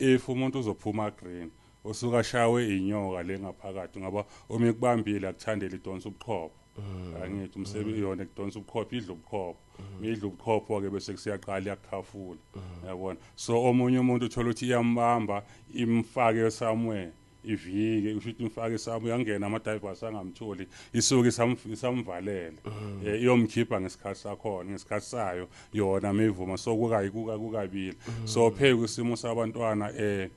if umuntu uzophuma green usuka shawe inyoka le ngaphakathi ngoba uma ikubambile akuthandele idonsa ubuchopho mm. angithi umsebenzi mm. yona kudonsa ubuchopho idla ubuchopho mm. idla ubuchopho ke bese kusiyaqala yakukhafula yabona so omunye umuntu uthola ukuthi iyambamba imfake somewhere ivike usho ukuthi ngifake isami uyangena ama-divers angamtholi isuke isamvalele um eh, iyomkhipha ngesikhathi sakhona ngesikhathi sayo yona meyivuma so kukabili mm. so phe kwisimo sabantwana um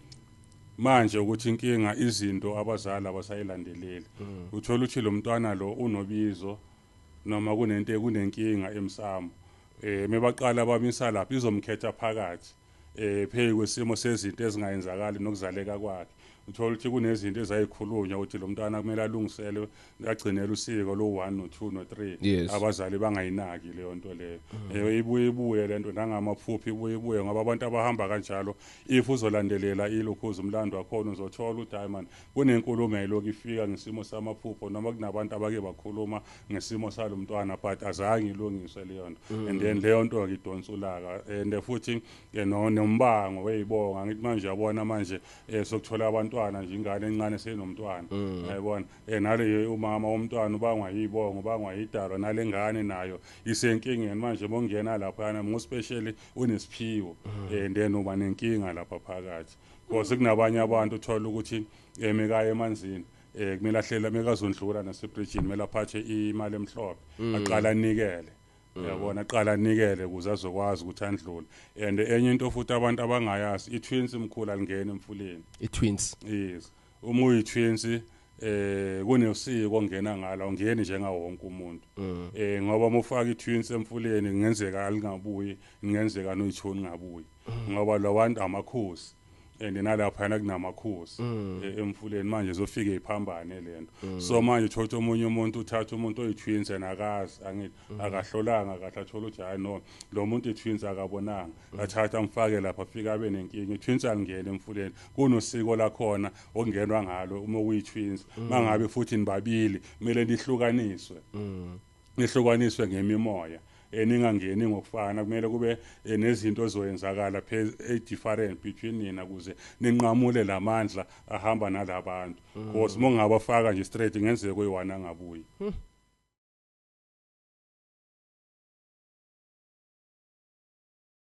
manje ukuthi inkinga izinto abazali abasayilandeleli mm. uthola ukuthi lo mntwana lo unobizo noma kunento kunenkinga emsamo um mebaqala bamisa lapho izomkhetha phakathi eh phezu kwesimo sezinto ezingayenzakali nokuzaleka kwakhe uthola ukuthi kunezinto ezayikhulunywa ukuthi lo mntwana kumele alungiselwe agcinele usiko lo 1 no 2 no 3 abazali bangayinaki leyo nto leyo mm. eh, ibuye ibuye lento nangamaphuphi ibuye ibuye ngoba abantu abahamba kanjalo if uzolandelela ilokhuza umlando wakhona uzothola ukuthi hayi man Kunenkulumo eloku ifika ngesimo samaphupho noma kunabantu abake bakhuluma ngesimo salo mntwana but azange ilungiswe leyo nto mm. and then leyo nto-ke idonsa ulaka and eh, futhi eh, nombango weyibonga ngithi manje yabona manje um eh, sokuthola abantwana nje ingane encane seyinomntwana mm. yayibona um naleyo umama womntwana ubangwa yiyibongo ubangwa yidalwa nale ngane nayo isenkingeni manje bongena laphayana ngospecially unesiphiwo um mm. then uba nenkinga lapha phakathi Because kunabanye abantu uthola ukuthi emekaya eh, emanzini eh kumele ahlela mekazondlula nasebridgini kumele aphathe imali emhlophe mm. aqala anikele mm. yabona aqala anikele ukuze azokwazi ukuthi andlule and enye into futhi abantu abangayazi i-twins mkhulu alingeni emfuleni i-twins yes Uma uyitwinsi eh kunesiko ongena ngala ungeni njenga wonke umuntu mm. eh ngoba mufaka itwins emfuleni kungenzeka alingabuyi kungenzeka noyithoni ngabuyi mm. ngoba lawantu amakhosi and nalapha yana kunamakhosi mm. eh, emfuleni manje zofike iphambane lento so manje thotha omunye umuntu uthatha umuntu oyitwins and akazi angithi akahlolanga kahle athola ukuthi hayi no lo muntu itwins akabonanga ngathatha ngifake lapha fika abe nenkinga itwins alingene emfuleni kunosiko lakhona okungenwa ngalo uma kuyitwins mm. mangabe futhi nibabili kumele nihlukaniswe mm. nihlukaniswe ngemimoya eningangeni ngokufana kumele kube eh, nezinto ezoyenzakala e-different eh, between nina kuze ninqamule la mandla ahamba nala bantu because uma ungabafaka nje straight ngenzeka kuyiwana angabuyi hmm.